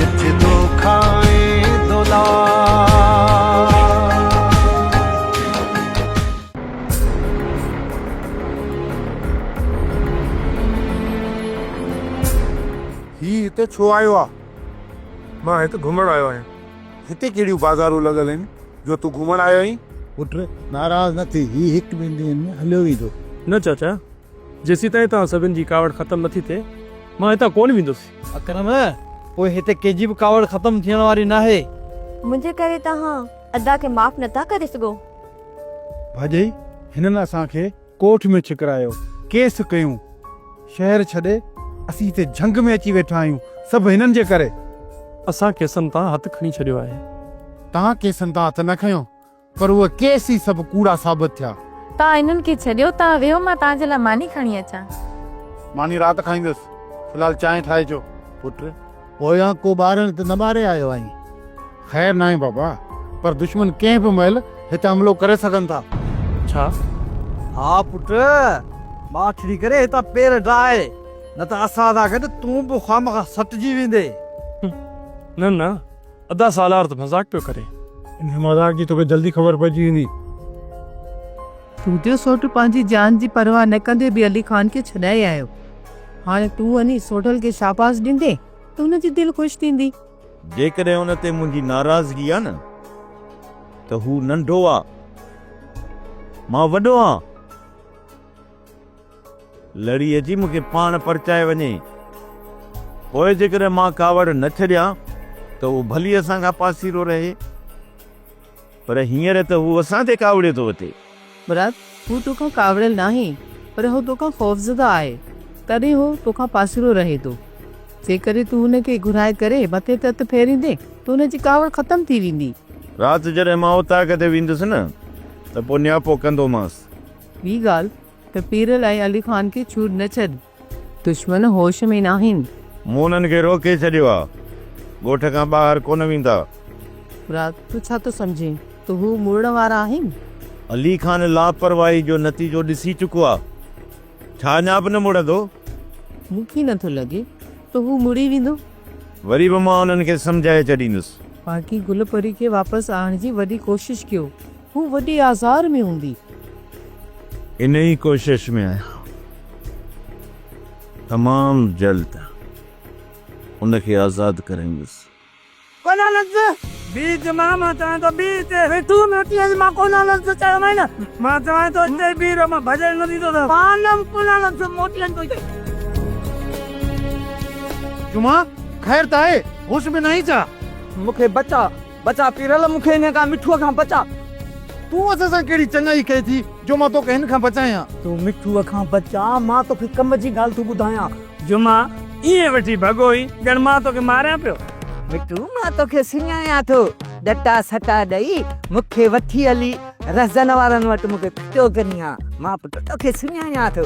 جت دوکا ۽ دولار. هي هتي ڇو آيو آ؟ مان هت گهمڻ آيو آهيان. هتي ڪهڙيون بازارون لڳل آهن جو تون گهمڻ آيو آهين؟ پٽ ناراض نه ٿي، هي هڪ ٻن ڏينهن ۾ هليو ويندو. نه چاچا! جيسيتائين توهان سڀن جي ڪاوڙ ختم نه ٿي ٿئي، مان هتان ڪونه ويندس. اڪرم، پوء هتي ڪنهن جي به ڪاوڙ ختم ٿيڻ واري ناهي. منهنجي ڪري توهان ادا کي معاف نه ٿا ڪري سگهو. ڀڄئي، هنن اسان کي ڪوٺ ۾ ڇڪرايو، ڪيس ڪيون. شهر ڇڏي، اسين هتي جهنگ ۾ اچي ويٺا آهيون، سڀ هنن جي ڪري. اسان ڪيسن تان هٿ کڻي ڇڏيو آهي. توهان ڪيسن تان هٿ نه کنيو. پر اهي ڪيس ئي سڀ ڪوڙا ثابت ٿيا. توهان هنن کي ڇڏيو. توهان ويهو مان توهان جي لاء ماني کڻي اچان. ماني رات کائيندس. في الحال چانهه ٺاهي اچو. پٽ! پويان ڪو ٻارڻ ته نه ٻاري آيو آهين؟ خير ناهي بابا. پر دشمن ڪنهن به مهل هت حملو ڪري سگهن ٿا. اڇا! ها پٽ! ماٺڙي ڪري هتان پير ڊاهه. نه ته اسان سان گڏ تون به خوامخواه سٽجي ويندين. نه نه! ادا سالار ته مذاق پيو ڪري. انهي مذاق جي توکي جلدي خبر پئجي ويندي. سوڍيو سوڍ پنهنجي جان جي پرواهه نه ڪندي به علي خان کي ڇڏائي آيو. هاڻي تون وڃي سوڍل کي شاباس ڏيندين ته هن جي دل خوش ٿيندي. جيڪڏهن ان تي منهنجي ناراضگي آ نه ته هو ننڍو آ مان وڏو آهان. لڙي اچي مون کي پاڻ پرچائي وڃي. پوء جيڪڏهن مان ڪاوڙ نه ڇڏيان ته اهو ڀلي اسان کان پاسيرو رهي. پر هينئر ته هو اسان تي ڪاوڙيو ٿو وتي. مراد، هو تو کان ڪاوڙيل ناهي، پر هو تو کان خوفزده آهي، تڏهن هو تو کان پاسيرو رهي ٿو. جيڪڏهن تون هن کي گهرائي ڪري مٿي تي هٿ ڦيريندين ته هن جي ڪاوڙ ختم ٿي ويندي. رات جڏهن مان اوطاق تي ويندس نه ته پوء نياپو ڪندومانس ٻي ڳالهه ته پيرل ۽ علي خان کي ڇوڙ نه ڇڏ. دشمن هوش ۾ ناهن. مون انهن کي روڪي ڇڏيو آ. ڳوٺ کان ٻاهر ڪونه ويندا. مراد، تون ڇا ٿو سمجهين ته هو مڙڻ وارا آهن؟ علي خان لاپرواهي جو نتيجو ڏسي چڪو آ. ڇا اڃا به نه مڙندو؟ مون کي نه ٿو لڳي ته هو مڙي ويندو. وري به مان انهن کي سمجهائي ڇڏيندس. باقي گل پري کي واپس آڻڻ جي وڏي ڪوشش ڪيو. هو وڏي آزار ۾ هوندي. انهيء ڪوشش ۾ آهيان تمام جلد ان کي آزاد ڪريندس. ڪونالنز بي جي ماما چوان ٿو بي هتي ويٺو موٽي اچ مان ڪونالنز کي چيومانس مان چوان ٿو هتي ئي بيهه رهه مان ڀڄڻ نه ڏيندو ته پانم ڪونالنز موٽي اچ ٿو چئي. جمعه خير ته آهي هوش ۾ ناهين ڇا؟ مون کي بچاء بچا پيرل مون کي انهيء ڪا مٺوء کان بچاء. تون اسان سان ڪهڙي چڱائي ڪئي ٿي جو مان توکي هن کان بچايان؟ تون مٺوء کان بچاء، مان توکي ڪم جي ڳالهه ٿو ٻڌايان. جو مان ائين ويٺي ڀڳوئي، ڄڻ مان توکي ماريان پيو. مٺو مان توکي سڃاڻان ٿو، ڏٽا سٽا ڏئي مون کي وٺي هلي رهزن وارن وٽ مون کي ڦٽو ڪرين ها، مان پٽ توکي سڃاڻان ٿو.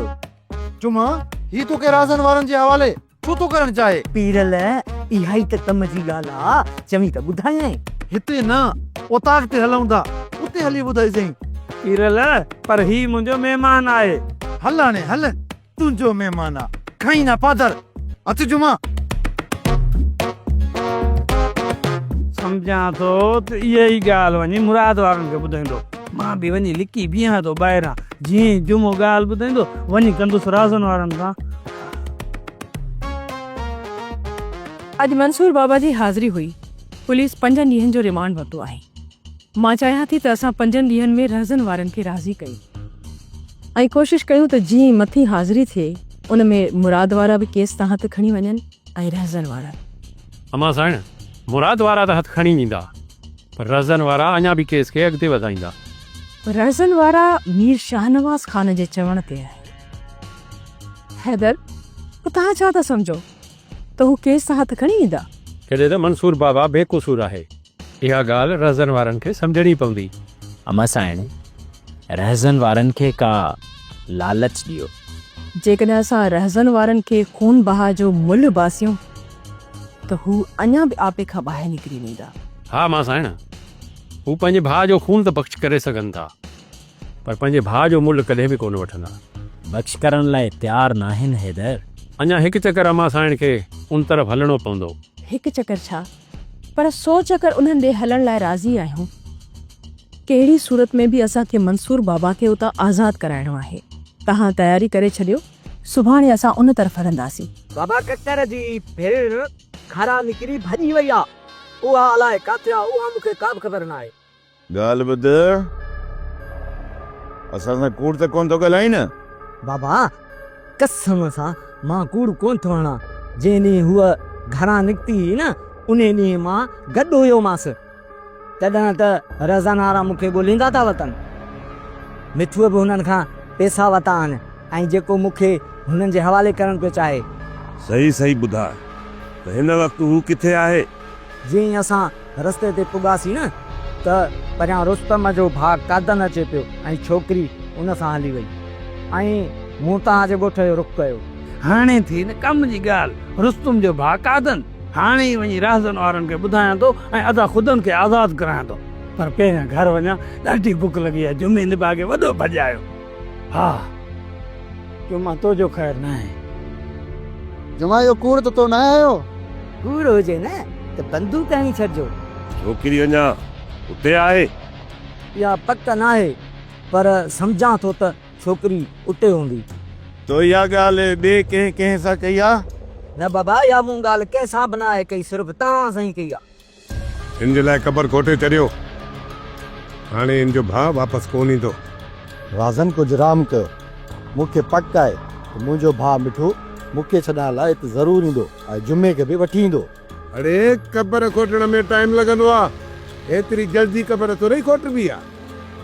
جو مان هي توکي رهزن وارن جي حوالي ڇو ٿو ڪرڻ چاهي؟ پيرل، اها ئي ته ڪم جي ڳالهه آ، چوين ته ٻڌايانء. هتي نه، اوطاق تي هلون ٿا، اتي هلي ٻڌائيسين. پيرل، پر هي منهنجو مهمان آهي. هل هاڻي هل، تنهنجو مهمان آ، کائين نه پادر، اچ جمعه. سمجهان ٿو ته اها ئي ڳالهه وڃي مراد وارن کي ٻڌائيندو. مان به وڃي لڪي بيهان ٿو ٻاهران، جيئن ئي جمعو ڳالهه ٻڌائيندو، وڃي ڪندس رازن وارن سان. اڄ منصور بابا جي حاضري هئي، پوليس پنجن ڏينهن جو ريمانڊ ورتو آهي، مان چاهيان ٿي ته اسان پنجن ڏينهن ۾ رهزن وارن کي راضي ڪيون ۽ ڪوشش ڪيون ته جي مٿين حاضري ٿئي ان ۾ مراد وارا به ڪيس تان هٿ کڻي وڃن ۽ رهزن وارا به. امان سائڻ، مراد وارا ته هٿ کڻي ويندا پر رهزن وارا اڃا به ڪيس کي اڳتي وڌائيندا. رهزن وارا مير شاهنواز خان جي چوڻ تي آهي. حيدر، پوء توهان ڇا ٿا سمجهو ته هو ڪيس تان هٿ کڻي ويندا؟ ڪڏهن ته منصور بابا بي قصور آهي. اها ڳالهه رهزن وارن کي سمجهڻي پوندي. اما سائڻ، رهزن وارن کي ڪا لالچ ڏيو. جيڪڏهن اسان رهزن وارن کي خون بهاء جو ملهه باسيون ته هو اڃا به آپي کان ٻاهر نڪري ويندا. ها اما سائڻ، هو پنهنجي ڀاء جو خون ته بخش ڪري سگهن ٿا. پر پنهنجي ڀاء جو ملهه ڪڏهن به ڪونه وٺندا. بخش ڪرڻ لاء تيار ناهن حيدر. اڃا هڪ چڪر اما سائڻ کي ان طرف هلڻو پوندو. هڪ چڪر ڇا پر سو چڪر انهن ڏي هلڻ لاء راضي آهيون. ڪهڙي صورت ۾ به اسان کي منصور بابا کي اتان آزاد ڪرائڻو آهي. توهان تياري ڪري ڇڏيو سڀاڻي اسان ان طرف هلنداسين. بابا ڪڪر جي ڀيڻ کارا نڪري ڀڄي وئي آ. اها الائي ڪاٿي آ اها مون کي ڪابه خبر ناهي. ڳالهه ٻڌ، اسان سان ڪوڙ ته ڪونه ٿو ڳالهائين نه؟ بابا، قسم سان مان ڪوڙ ڪونه ٿو هڻان، جنهن ڏينهن هوء گهران نڪتي هئي نه، انهي ڏينهن مان گڏ هيومانس، تڏهن ته رضا نارا مون کي ڳولهيندا ٿا وتن. مٺوء به هنن کان پئسا ورتا آهن ۽ جيڪو مون کي هنن جي حوالي ڪرڻ پيو چاهي. صحيح صحيح ٻڌاء ته هن وقت هو ڪٿي آهي؟ جئين اسان رستي تي پڳاسين نه ته پريان رستم جو ڀاء قادن اچي پيو ۽ ڇوڪري ان سان هلي وئي ۽ مون توهان جي ڳوٺ جو رخ ڪيو. هاڻي ٿي نه ڪم جي ڳالهه، رستم جو ڀاء قادن، هاڻي ئي وڃي راهزن وارن کي ٻڌايان ٿو ۽ ادا خدن کي آزاد ڪرايان ٿو. پر پهريان گهر وڃان، ڏاڍي بک لڳي آهي. جمعي نڀاڳي وڏو ڀڄ آيو. ها جمعه تو جو خير ناهي. جمعه اهو ڪوڙ ته تو ناهي هيو. ڪوڙ هجي نه ته بندوق هڻي ڇڏجو. ڇوڪري اڃا اتي آهي؟ اها پڪ ناهي پر سمجهان ٿو ته ڇوڪري اتي هوندي. تو اها ڳالهه ٻئي ڪنهن ڪنهن سان ڪئي آهي؟ نه بابا اها مون ڳالهه ڪنهن سان به ناهي ڪئي صرف توهان سان ئي ڪئي آهي. هن جي لاء قبر کوٽي چريو. هاڻي هن جو ڀاء واپس ڪونه ايندو. رازن ڪجهه رام ڪيو. مون کي پڪ آهي ته منهنجو ڀاء مٺو مون کي ڇڏائڻ لاء هت ضرور ايندو ۽ جمعي کي به وٺي ايندو. اڙي قبر کوٽڻ ۾ ٽائيم لڳندو آهي. هيتري جلدي قبر ٿورئي کوٽبي آهي.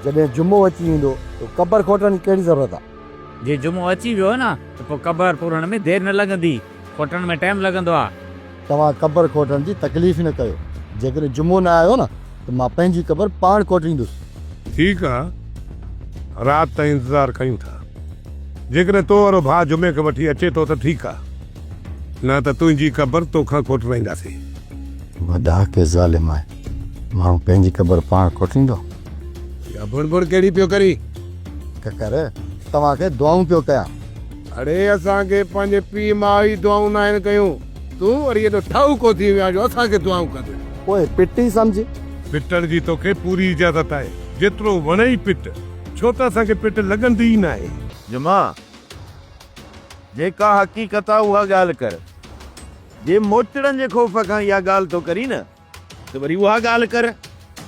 جڏهن جمعو اچي ويندو ته قبر کوٽڻ جي ڪهڙي ضرورت آهي. جي جمعو اچي ويو نه ته پوء قبر پورڻ ۾ دير نه لڳندي. کوٽڻ ۾ ٽائيم لڳندو آهي. توهان قبر کوٽڻ جي تڪليف نه ڪيو. جيڪڏهن جمعو نه آيو نه ته مان پنهنجي قبر پاڻ کوٽيندس. ٺيڪ آ رات تائين انتظار ڪيون ٿا. جيڪڏهن تو وارو ڀاء جمعي کي وٺي اچي ٿو ته ٺيڪ آ. نه ته تنهنجي قبر تو کان کوٽرائينداسين. اها ڏاهڪي ظالم آهي. ماڻهو پنهنجي قبر پاڻ کوٽيندو. اها ڀڻ ڀڻ ڪهڙي پيو ڪرين؟ ڪڪر توهان کي دعائون پيو ڪيان. اڙي اسان کي پنهنجي پيء ماء ئي دعائون ناهن ڪيون، تون وري ايڏو ٺاهوڪو ٿي ويو آهين جو اسان کي دعائون ڪندين. پوء پٽ ئي سمجهه. پٽڻ جي توکي پوري اجازت آهي، جيترو وڻئي پٽ، ڇو ته اسان کي پٽ لڳندي ئي ناهي. جمعا، جيڪا حقيقت آ اها ڳالهه ڪر. جي موچڙن جي خوف کان اها ڳالهه ٿو ڪرين نه ته وري اها ڳالهه ڪر.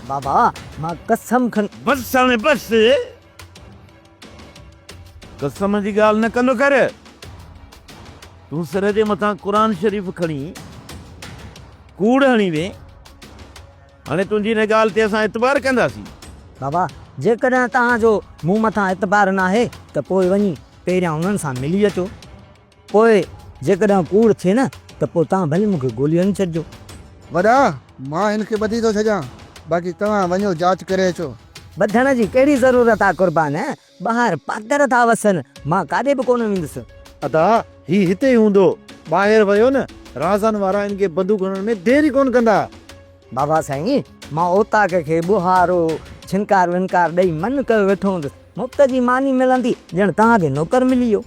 بابا، مان قسم کڻي. بس هاڻي بس. قسم جي ڳالهه نه ڪندو ڪر. تون سر جي مٿان قرآن شريف کڻي ڪوڙ هڻي وين. هاڻي تنهنجي ان ڳالهه تي اسان اعتبار ڪنداسين. بابا، جيڪڏهن توهان جو مون مٿان اعتبار ناهي ته پوء وڃي پهريان انهن سان ملي اچو. پوء جيڪڏهن ڪوڙ ٿئي نه ته پوء توهان ڀلي مون کي گولي هڻي ڇڏجو. وڏا، مان هن کي ٻڌي ٿو ڇڏيان، باقي توهان وڃو جاچ ڪري اچو. ٻڌڻ جي ڪهڙي ضرورت آ قربان، ٻاهر پاڪڙ ٿا وسن، مان ڪاڏي به ڪونه ويندس. ادا، هي هتي ئي هوندو، ٻاهر ويو نه، رازن وارا هن کي بندوق هڻڻ ۾ دير ئي ڪونه ڪندا. بابا سائين، مان اوطاق کي ٻوهارو، ڇنڪار ونڪار ڏئي من ڪيو ويٺو هوندس. مفت جي ماني ملندي، ڄڻ توهان کي نوڪر ملي ويو.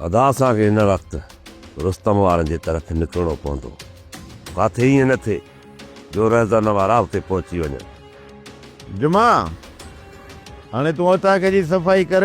ادا اسان کي هن وقت رستم وارن جي طرف نڪرڻو پوندو. ڪاٿي ائين نه ٿئي جو رهزن وارا اتي پهچي وڃن. جمعه، هاڻي تون اوطاق جي صفائي ڪر.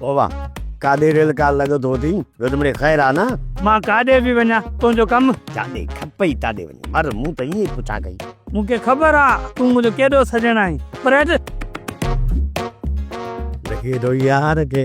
بابا ڪاڏي ريل ڪار لڳو ٿو ٿي ويل مڙي خير آ نه. مان ڪاڏي به وڃان تنهنجو ڪم. جاڏي کپئي تاڏي وڃ مر مون ته ائين ئي پڇا ڪئي. مون کي خبر آ تون منهنجو ڪيڏو سڄڻ آهين پر هٽ. لڳي ٿو يار ڪي.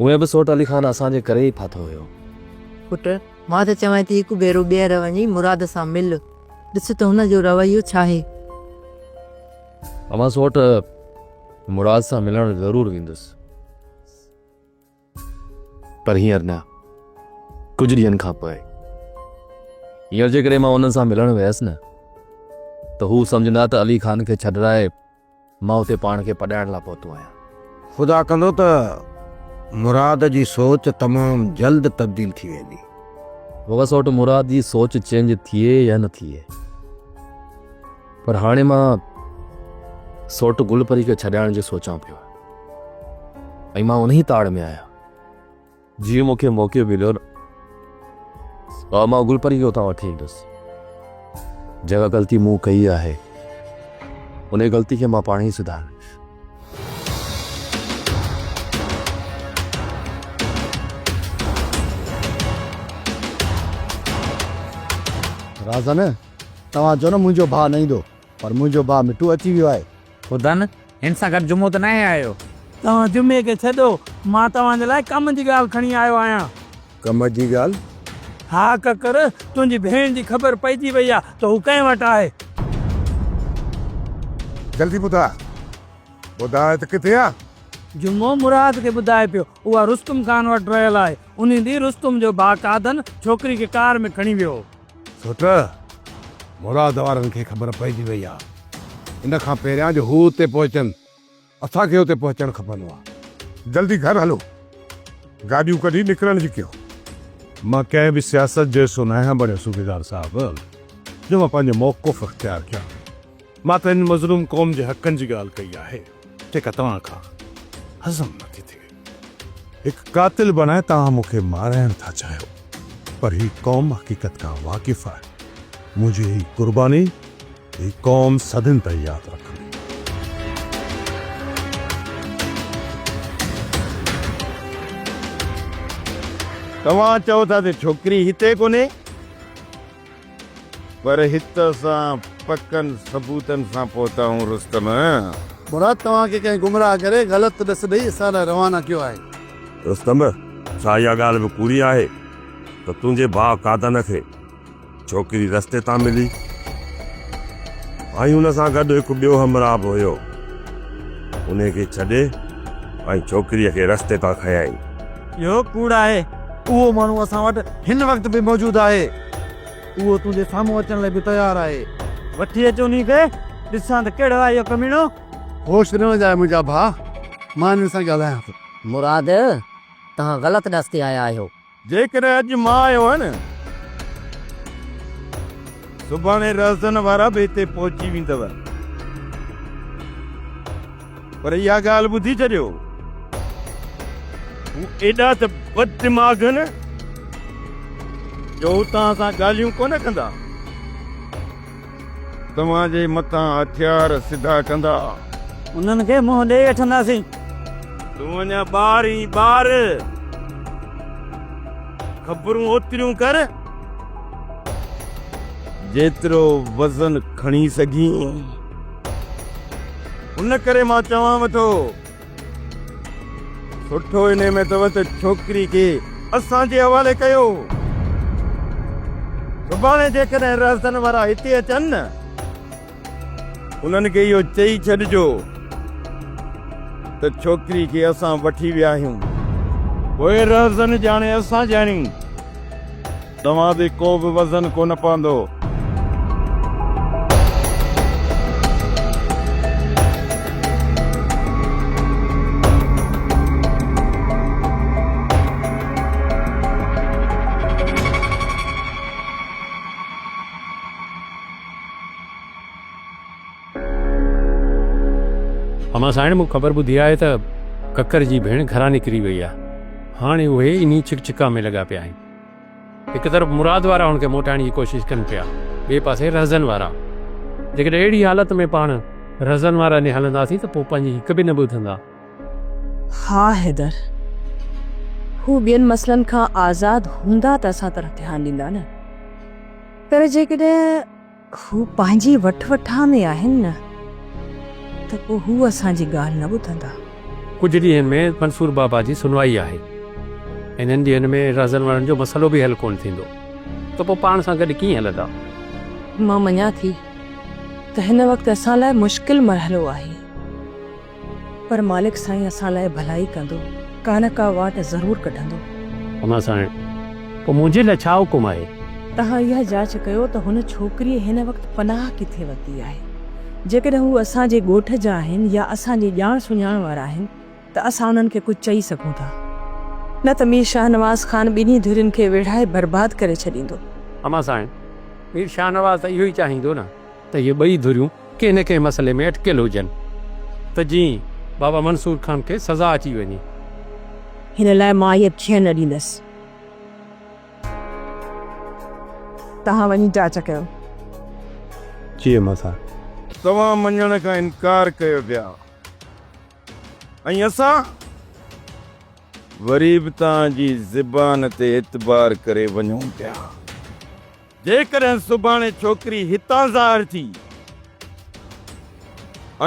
اهي به سوٽ علي خان اسان جي ڪري ئي ڦاٿو هيو. پٽ، مان ته چوانء ٿي هڪ ڀيرو ٻيهر وڃي مراد سان مل. ڏس ته هن جو رويو ڇاهي. امان سوٽ، مراد سان ملڻ ضرور ويندس. پر هينئر نه. ڪجهه ڏينهن کان پوء. هينئر جيڪڏهن مان انهن سان ملڻ ويس نه ته هو سمجهندا ته علي خان کي ڇڏرائي مان اتي پاڻ کي پڏائڻ لاء پهتو آهيان. خدا ڪندو ته مراد جي سوچ تمام جلد تبديل ٿي ويندي. وڳا سوٽ مراد جي سوچ چينج ٿئي يا نه ٿئي پر هاڻي مان سوٽ گل پري کي ڇڏائڻ جو سوچان پيو ۽ مان انهي تاڙ ۾ آهيان. جيئن مون کي موقعو مليو نه ها مان گلپري کي اتان وٺي ايندس. جيڪا غلطي مون ڪئي آهي انهي غلطي کي مان پاڻ ئي سڌاريندس. رازن توهان چئو نه منهنجو ڀاء نه ايندو پر منهنجو ڀاء مٺو اچي ويو آهي. ٻڌن، هن سان گڏ جمعو ته ناهي آيو؟ توهان جمعي کي ڇڏو، مان توهان جي لاء ڪم جي ڳالهه کڻي آيو آهيان. ڪم جي ڳالهه؟ ها ڪڪر، تنهنجي ڀيڻ جي خبر پئجي وئي آهي ته هو ڪنهن وٽ آهي. جلدي ٻڌاء، ٻڌاء ته ڪٿي آهي؟ جمعو مراد کي ٻڌائي پيو، اها رستم خان وٽ رهيل آهي. انهي ڏينهن رستم جو ڀاء قادن ڇوڪري کي ڪار ۾ کڻي ويو هو. سوٽ، مراد وارن کي خبر پئجي وئي آ، ان کان پهريان جو هو اتي پهچن، اسان کي اتي پهچڻ کپندو آ. جلدي گهر هلو. گاڏيون ڪڍي نڪرڻ جي ڪيو. مان ڪنهن به سياست جو حصو ناهيان بڻيو صوبيدار صاحب، جو مان پنهنجو موقف اختيار ڪيان. مان ته هن مظلوم قوم جي حقن جي ڳالهه ڪئي آهي. جيڪا توهان کان هضم نه ٿي ٿئي. هڪ قاتل بڻائي توهان مون کي مارائڻ ٿا چاهيو پر هي قوم حقيقت کان واقف آهي. منهنجي هي قرباني هي قوم صدين تائين ياد رکندي. توهان چئو ٿا ته ڇوڪري هتي ڪونهي. پر هت اسان پڪن ثبوتن سان پهتاهون رستم. مراد توهان کي ڪنهن گمراهه ڪري غلط ڏس ڏئي اسان ڏانهن روانا ڪيو آهي. رستم، ڇا اها ڳالهه به پوري آهي ته تنهنجي ڀاء قادن کي ڇوڪري رستي تان ملي ۽ ان سان گڏ هڪ ٻيو همراهه به هيو، انهي کي ڇڏي ۽ ڇوڪريء کي رستي تان کنيائين. اهو ڪوڙ آهي. اهو ماڻهو اسان وٽ هن وقت به موجود آهي. اهو تنهنجي سامهون اچڻ لاء به تيار آهي. وٺي اچ انهي کي، ڏسان ته ڪهڙو آهي اهو ڪميڻو. هوش نه وڃاء منهنجا ڀاء، مان هن سان ڳالهايان ٿو. مراد، توهان غلط ڏس تي آيا آهيو. جيڪڏهن اڄ مان آيو هان، سڀاڻي رهزن وارا به هتي پهچي ويندؤ. پر اها ڳالهه ٻڌي ڇڏيو، هو ايڏا ته بددماغ هن جو هو توهان سان ڳالهيون ڪونه ڪندا. توهان جي مٿان هٿيار سڌا ڪندا. انهن کي منهن ڏيئي وٺنداسين. تون اڃا ٻار اين ٻار. خبرون اوتريون ڪر جيترو وزن کڻي سگهين. ان ڪري مان چوانء ٿو، سٺو انهيء ۾ اٿو ته ڇوڪري کي اسان جي حوالي ڪيو. سڀاڻي جيڪڏهن رهزن وارا هتي اچن نه، انهن کي اهو چئي ڇڏجو ته ڇوڪري کي اسان وٺي ويا آهيون. پوء رهزن ڄاڻي اسان ڄاڻي. توهان تي ڪو به وزن ڪونه پوندو. امان ساڻ مون خبر ٻڌي آهي ته ڪڪر جي ڀيڻ گهران نڪري وئي آهي. هاڻي اهي انهي ڇڪ ڇڪان ۾ لڳا پيا آهن. هڪ طرف مراد وارا هن کي موٽائڻ جي ڪوشش ڪن پيا، ٻئي پاسي رهزن وارا. جيڪڏهن اهڙي حالت ۾ پاڻ رهزن وارن ڏي هلنداسين ته پوء پنهنجي هڪ به نه ٻڌندا. ها حيدر! هو ٻين مسئلن کان آزاد هوندا ته اسان طرف ڌيان ڏيندا نه. پر جيڪڏهن. هو پنهنجي وٺ وٺان ۾ آهن نه ته پوء هو اسان جي ڳالهه نه ٻڌندا. ڪجهه ڏينهن ۾ منصور بابا جي سنوائي آهي. انهن ڏينهن ۾ رهزن وڙهن جو مسئلو به حل ڪونه ٿيندو ته پوء پاڻ سان گڏ ڪيئن هلندا؟ مان مڃان ٿي ته هن وقت اسان لاء مشڪل مرحلو آهي. پر مالڪ سائين اسان لاء ڀلائي ڪندو، ڪا نه ڪا واٽ ضرور ڪڍندو. امان سائڻ، پوء منهنجي لاء ڇا حڪم آهي؟ توهان اها جاچ ڪيو ته هن ڇوڪريء هن وقت پناهه ڪٿي ورتي آهي. جيڪڏهن هو اسان جي ڳوٺ جا آهن يا اسان جي ڄاڻ سڃاڻ وارا آهن ته اسان انهن کي ڪجهه چئي سگهون ٿا. نه ته مير شاهنواز خان ٻنهي ڌرين کي ويڙهائي برباد ڪري ڇڏيندو. امان سائڻ، مير شاهنواز ته اهو ئي چاهيندو نه ته اهي ٻئي ڌريون ڪنهن نه ڪنهن مسئلي ۾ اٽڪيل هجن ته جيئن بابا منصور خان کي سزا اچي وڃي. هن لاء مان هيء ٿيڻ نه ڏيندس. توهان وڃي جاچ ڪيو. چيم اسان. توهان مڃڻ کان انڪار ڪيو پيا ۽ اسان وري به توهان جي زبان تي اعتبار ڪري وڃون پيا. جيڪڏهن سڀاڻي ڇوڪري هتان ظاهر ٿي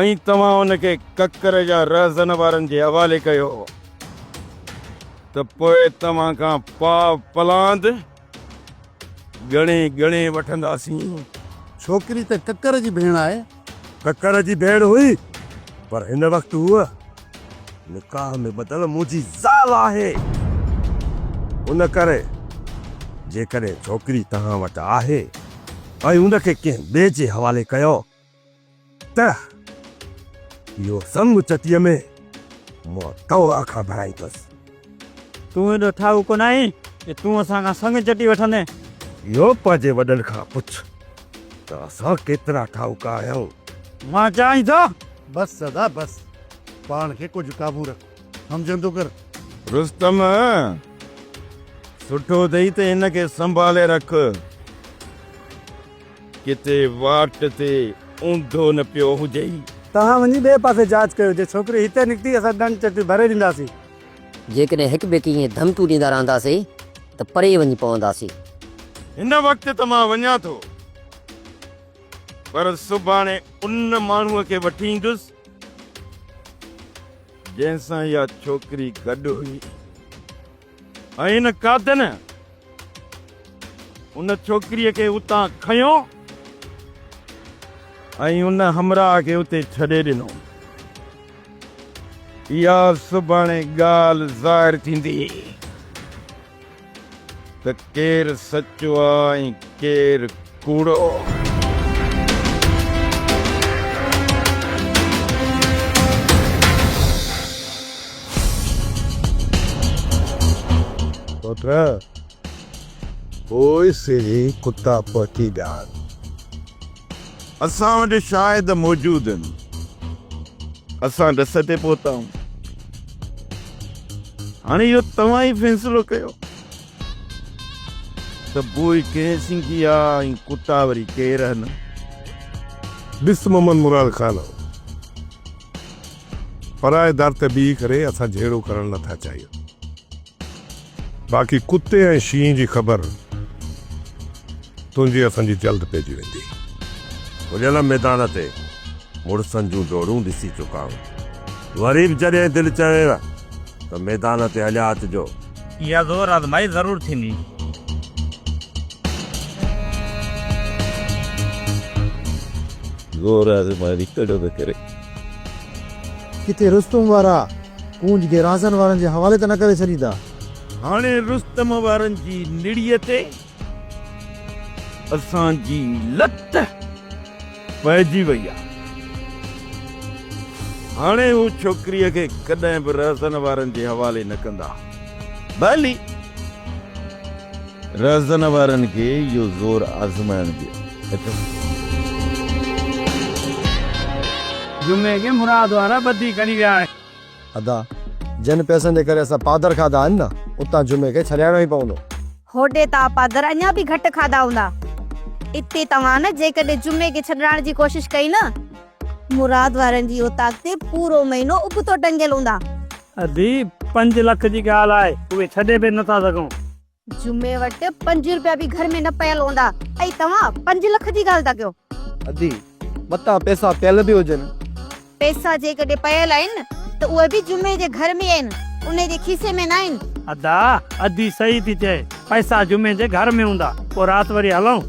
۽ توهان ان کي ڪڪر يا رهزن وارن جي حوالي ڪيو ته پوء توهان کان پاء پلاند ڳڻي ڳڻي وٺنداسين. ڇوڪري ته ڪڪر جي ڀيڻ آهي. ڪڪر جي ڀيڻ هئي پر هن وقت هوء نڪاح ۾ ٻڌل منهنجي زال آهي. ان ڪري جيڪڏهن ڇوڪري توهان وٽ آهي ۽ ان کي ڪنهن ٻئي جي حوالي ڪيو ته اهو سڱ چٽيء ۾ مان توهان کان ڀرائيندس. تون ايڏو ٺاهو ڪونه آهين جو تون اسان کان سڱ چٽي وٺندين. اهو پنهنجي وڏن کان پڇ ته اسان ڪيترا ٺاهوڪا آهيون. مان چئين ٿو. بس سدا بس. پاڻ کي ڪجهه قابو رک. همجندو ڪر. رستم، سٺو اٿئي ته هن کي سنڀالي رک. ڪٿي واٽ تي اونڌو نه پيو هجئي. توهان وڃي ٻئي پاسي جاچ ڪيو. جي ڇوڪري هتي نڪتي اسان ڏنڊ چٽي ڀري ڏينداسين. جيڪڏهن هڪ ٻئي کي ائين ڌمڪيون ڏيندا رهنداسين ته پري وڃي پونداسين. هن وقت ته مان وڃان ٿو پر سڀاڻي ان ماڻهوء کي وٺي ايندس جنهن سان اها ڇوڪري گڏ هئي ۽ ان قاتل ان ڇوڪريء کي اتان کنيو ۽ ان همراهه کي اتي ڇڏي ڏنو. اها سڀاڻي ڳالهه ظاهر ٿيندي ته ڪير سچو آ ۽ ڪير ڪوڙو. پٽ، پوء سيري ڪتا پهچي ڄاڻ. اسان وٽ شاهد موجود هن. اسان ڏس تي پهتائون. هاڻي اهو توهان ئي فيصلو ڪيو. ته پوء ڪنهن سنگي آ ۽ ڪتا وري ڪير هن؟ ڏس محمد مراد خان او پرائي در تي بيهي ڪري اسان جهيڙو ڪرڻ نه ٿا چاهيون باقي ڪتي ۽ شينهن جي خبر تنهنجي اسان جي جلد پئجي ويندي. کليل ميدان تي مڙسن جون ڊوڙون ڏسي چڪا آهيون وري به جڏهن دل چوينء ته ميدان تي هليا اچجو. اها زور آزمائي ضرور ٿيندي. زور آزمائي ڪڏهن نه ڪري. ڪٿي رستم وارا ڪونج کي رانسن وارن جي حوالي ته نه ڪري ڇڏيندا. هاڻي رستم وارن جي نڙيء تي. اسان جي لت پئجي وئي آ هاڻي هو ڇوڪريء کي ڪڏهن به رهزن وارن جي حوالي نه ڪندا ڀلي رهزن وارن کي اهو زور آزمائڻ ڏيو. جمعي کي مراد وارا ٻڌي کڻي ويا آهن. ادا جن پئسن جي ڪري اسان پادر کاڌا آهن نه اتان جمعي کي ڇڏائڻو ئي پوندو. هوڏي توهان پادر اڃا به گهٽ کاڌا هوندا. اتي توهان نه جيڪڏهن جمعي کي ڇڏرائڻ جي ڪوشش ڪئي نه. مراد وارن جي اوطاق تي پورو مهينو ابتو ٽنگيل هوندا. ادي پنج لک جي ڳالهه آهي اهي ڇڏي به نه ٿا سگهون. جمعي وٽ پنج روپيا به گهر ۾ نه پيل هوندا ۽ توهان پنج لک جي ڳالهه ٿا ڪيو. ادي متان پئسا پيل به هجن. پئسا جيڪڏهن پيل آهن ته اهي به جمعي جي گهر ۾ آهن انهي جي کيسي ۾ ناهن. ادا ادي صحيح ٿي چئي پئسا جمعي جي گهر ۾ هوندا پوء رات وري هلئون.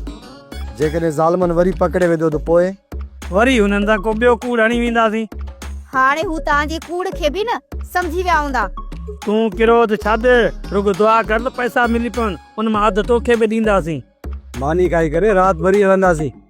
جيڪڏهن ظالمن وري پڪڙي وڌو ته پوء؟ وري هنن سان ڪو ٻيو ڪوڙ هڻي وينداسين. هاڻي هو توهان جي ڪوڙ کي به نه سمجهي ويا هوندا. تون ڪروڌ ڇڏ رڳو دعا ڪر ته پئسا ملي پون ان مان اڌ توکي به ڏينداسين. ماني کائي ڪري رات وري هلنداسين.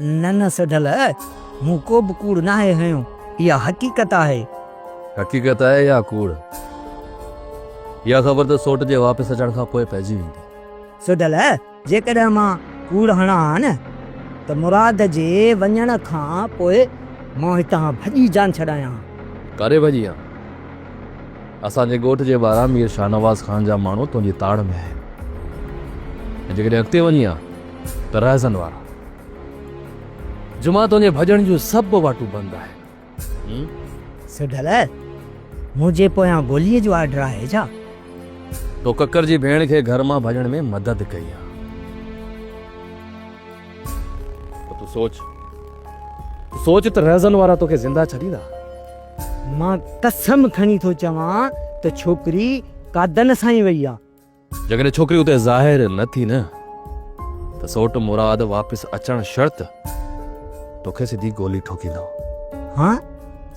نه نه سڍل، مون ڪو به ڪوڙ ناهي هنيو، اها حقيقت آهي. حقيقت آهي يا ڪوڙ؟ اها خبر ته سوٽ جي واپس اچڻ کان پوء پئجي ويندي. سڍل، جيڪڏهن مان ڪوڙ هڻان ها نه ته مراد جي وڃڻ کان پوء مان هتان ڀڄي جان ڇڏايان ها. ڪاڏي ڀڄي ها؟ اسان جي ڳوٺ جي ٻاهران مير شاهنواز خان جا ماڻهو تنهنجي تاڙ ۾ آهن ۽ جيڪڏهن اڳتي وڃي ها، ته رهزن وارا جمعه تنهنجي ڀڄڻ جون سڀ واٽون بند آهن. سڍل، منهنجي پويان گوليء جو آرڊر آهي ڇا؟ تو ڪڪر جي ڀيڻ کي گهر مان ڀڄڻ ۾ مدد ڪئي آ ته تون سوچ تون سوچ ته رهزن وارا توکي زنده ڇڏيندا؟ مان قسم کڻي ٿو چوان ته ڇوڪري قادن سان ئي وئي آ. جيڪڏهن ڇوڪري اتي ظاهر نه ٿي نه ته سوٽ مراد واپس اچڻ شرط توکي سڌي گولي ٺوڪيندو. ها؟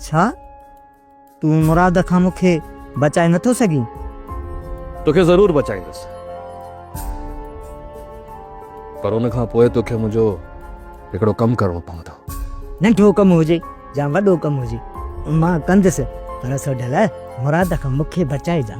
ڇا؟ تون مراد کان مون کي بچائي نه ٿو سگهين؟ توکي ضرور بچائيندس پر ان کان پوء توکي منهنجو هڪڙو ڪم ڪرڻو پوندو. ننڍو ڪم هجي يا وڏو ڪم هجي مان ڪندس پر سوڍل مراد کان مون کي بچائجان.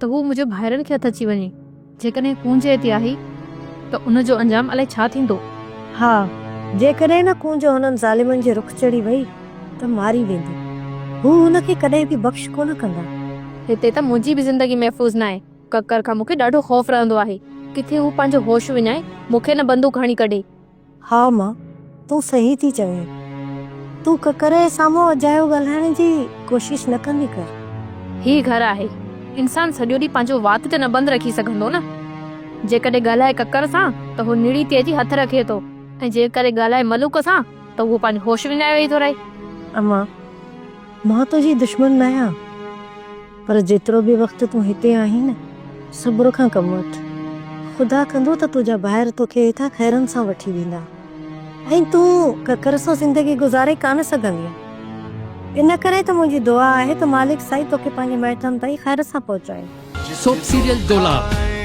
ته هو منهنجي ڀائرن کي هٿ اچي وڃي. جيڪڏهن ڪونج ايتي آهي ته ان جو انجام الائي ڇا ٿيندو؟ ها، جيڪڏهن نه ڪونج هنن ظالمن جي رخ چڙهي وئي ته ماري ويندي. هو هن کي ڪڏهن به بخش ڪونه ڪندا. هتي ته منهنجي به زندگي محفوظ ناهي. ڪڪر کان مون کي ڏاڍو خوف رهندو آهي. ڪٿي هو پنهنجو هوش وڃائي مون کي نه بندوق هڻي ڪڍي. ها ماء تون صحيح ٿي چوين. تون ڪڪر جي سامهون اجايو ڳالهائڻ جي ڪوشش نه ڪندي ڪر. هي گهر آهي. انسان سڄو ڏينهن پنهنجو وات ته نه بند رکي سگهندو نه. جيڪڏهن ڳالهائي ڪڪر سان ته هو نڙي تي اچي هٿ رکي ٿو ۽ جيڪڏهن ڳالهائي ملوڪ سان ته اهو پنهنجو هوش وڃائي ويهي ٿو رهي. امان مان تنهنجي دشمن نه آهيان. پر جيترو به وقت تون هتي آهين نه، صبر کان ڪم وٺ. خدا ڪندو ته تنهنجا ڀائر توکي هتان خيرن سان وٺي ويندا ۽ تون ڪڪر سان زندگي گذاري ڪانه سگهندينء. ان ڪري ته منهنجي دعا آهي ته مالڪ سائين توکي پنهنجي مائٽن تائين خير سان پهچائي. سوپ سيريل دولاب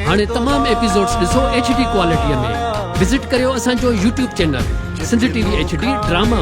هاڻي تمام ايپيسوڊز ڏسو ايڇ ڊي ڪوالٽيء ۾ وزٽ ڪريو اسان جو YouTube channel Sindh T V H D drama.